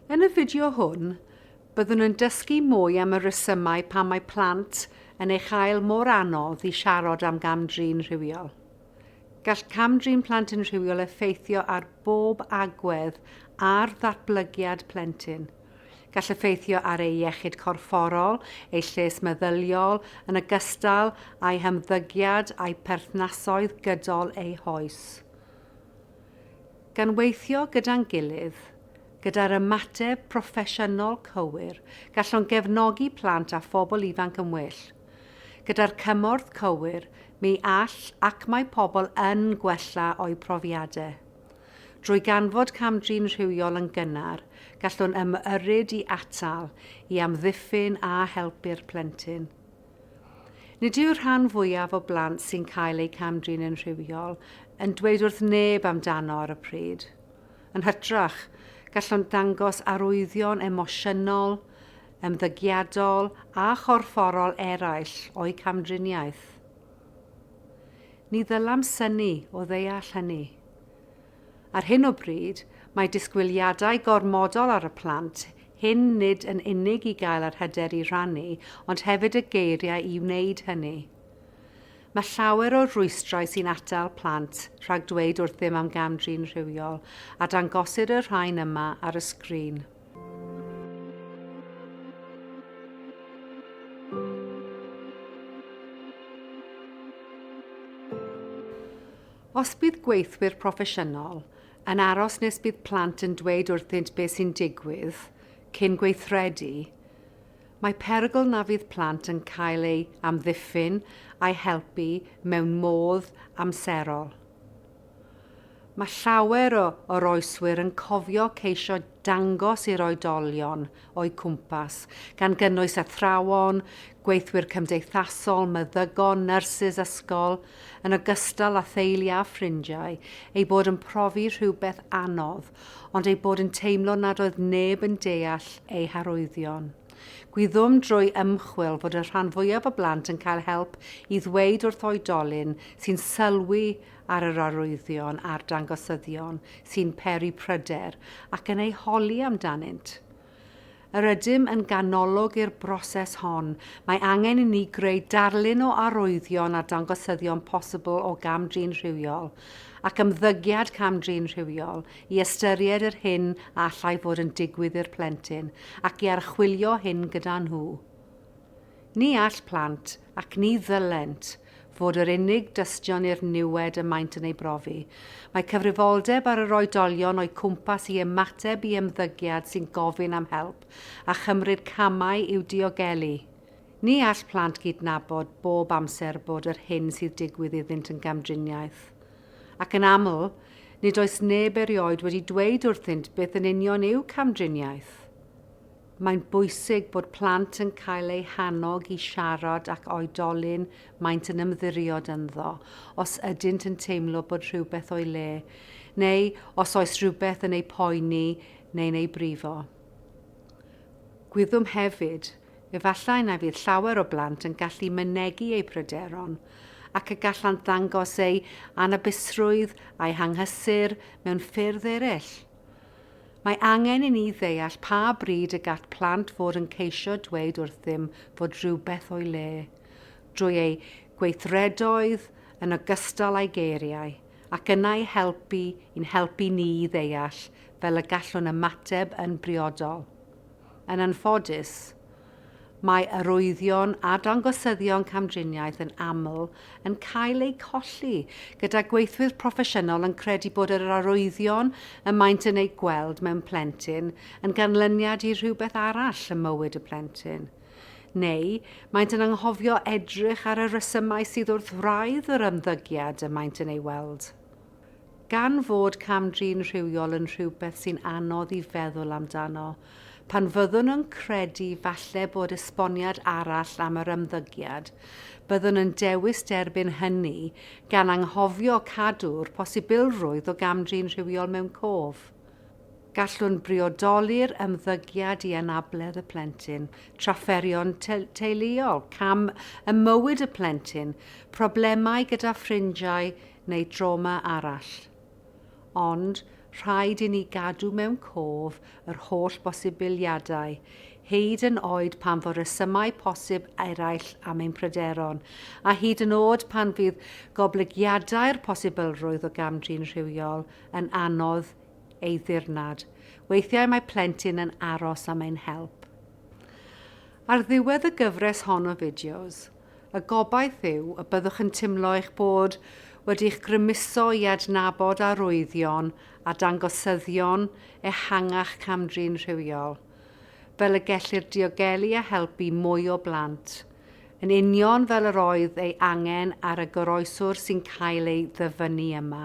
Yn y fideo hwn, byddwn yn dysgu mwy am y rhesymau pam mae plant yn ei chael mor anodd i siarad am gam-drin rhywiol. Gall cam-drin plant yn rhywiol effeithio ar bob agwedd ar ddatblygiad plentyn. Gall effeithio ar eu iechyd corfforol, eu lles meddyliol, yn ogystal â'u hymddygiad a'u perthnasoedd gydol eu hoes. Gan weithio gyda'n gilydd, gyda'r ymateb proffesiynol cywir, gallwn gefnogi plant a phobl ifanc yn well. Gyda'r cymorth cywir, mi all ac mae pobl yn gwella o'u profiadau. Drwy ganfod cam-drin rhywiol yn gynnar, gallwn ymyrryd i atal, i amddiffyn a helpu'r plentyn. Nid yw'r rhan fwyaf o blant sy'n cael eu cam-drin yn rhywiol yn dweud wrth neb amdano ar y pryd. Yn hytrach, gallwn ddangos arwyddion emosiynol, ymddygiadol a chorfforol eraill o'u camdriniaeth. Ni ddylam synnu o ddeall hynny. Ar hyn o bryd, mae disgwyliadau gormodol ar y plant hyn nid yn unig i gael yr hyder i rannu ond hefyd y geiriau i wneud hynny. Mae llawer o rwystrau sy'n atal plant rhag dweud wrthym am gam-drin rhywiol a dangosir y rhain yma ar y sgrin. Os bydd gweithwyr proffesiynol yn aros nes bydd plant yn dweud wrthynt beth sy'n digwydd cyn gweithredu, mae perygl na fydd plant yn cael eu amddiffyn a'i helpu mewn modd amserol. Mae llawer o oroeswyr yn cofio ceisio dangos i'r oedolion o'u cwmpas, gan gynnwys athrawon, gweithwyr cymdeithasol, meddygon, nyrsys ysgol, yn ogystal â theulu a ffrindiau, eu bod yn profi rhywbeth anodd, ond eu bod yn teimlo nad oedd neb yn deall eu harwyddion. Gwyddom drwy ymchwil fod y rhan fwyaf o blant yn cael help i ddweud wrth oedolyn sy'n sylwi ar yr arwyddion a'r dangosyddion sy'n peri pryder ac yn eu holi amdanynt. Yr ydym yn ganolog i'r broses hon, mae angen i ni greu darlun o arwyddion a dangosyddion posibl o gam-drin rhywiol, ac ymddygiad cam-drin rhywiol i ystyried yr hyn a allai fod yn digwydd i'r plentyn ac i archwilio hyn gyda nhw. Ni all plant, ac ni ddylent, fod yr unig dystion i'r niwed y maent yn ei brofi. Mae cyfrifoldeb ar yr oedolion o'u cwmpas i ymateb i ymddygiad sy'n gofyn am help a chymryd camau i'w diogelu. Ni all plant gydnabod bob amser bod yr hyn sydd digwydd iddynt yn gamdriniaeth. Ac yn aml, nid oes neb erioed wedi dweud wrthynt beth yn union yw camdriniaeth. Mae'n bwysig bod plant yn cael eu hannog i siarad ac oedolyn maent yn ymddiriod ynddo os ydynt yn teimlo bod rhywbeth o'i le, neu os oes rhywbeth yn eu poeni neu'n eu brifo. Gwyddom hefyd Efallai na fydd llawer o blant yn gallu mynegi eu pryderon ac y gallant ddangos eu anabusrwydd a'u hanghysur mewn ffyrdd eraill. Mae angen i ni ddeall pa bryd y gall plant fod yn ceisio dweud wrthym fod rhywbeth o'i le, drwy eu gweithredoedd yn ogystal â'i geiriau, ac yna ei helpu i'n helpu ni i ddeall fel y gallwn ymateb yn briodol. Yn anffodus, mae arwyddion a dangosyddion camdriniaeth yn aml yn cael eu colli, gyda gweithwyr proffesiynol yn credu bod yr arwyddion y maent yn eu gweld mewn plentyn yn ganlyniad i rhywbeth arall ym mywyd y plentyn. Neu, maent yn anghofio edrych ar y rhesymau sydd wrth wraidd yr ymddygiad y maent yn ei weld. Gan fod cam-drin rhywiol yn rhywbeth sy'n anodd i feddwl amdano, pan fyddwn yn credu falle bod esboniad arall am yr ymddygiad, byddwn yn dewis derbyn hynny, gan anghofio cadw'r posibilrwydd o gam-drin rhywiol mewn cof. Gallwn briodoli'r ymddygiad i anabledd y plentyn, trafferthion teuluol, cam ym mywyd y plentyn, problemau gyda ffrindiau, neu drawma arall. Ond rhaid i ni gadw mewn cof yr holl bosibiliadau, hyd yn oed pan fo rhesymau posib eraill am ein pryderon, a hyd yn oed pan fydd goblygiadau'r posibilrwydd o gam-drin rhywiol yn anodd ei ddirnad, weithiau mae plentyn yn aros am ein help. Ar ddiwedd y gyfres hon o fideos, Y gobaith yw y byddwch yn teimlo eich bod wedi'ch grymuso i adnabod arwyddion a dangosyddion ehangach cam-drin rhywiol, fel y gellir diogelu a helpu mwy o blant, yn union fel yr oedd ei angen ar y goroeswr sy'n cael ei ddyfynnu yma.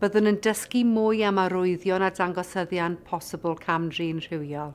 Byddwn yn dysgu mwy am arwyddion a dangosyddion posibl cam-drin rhywiol.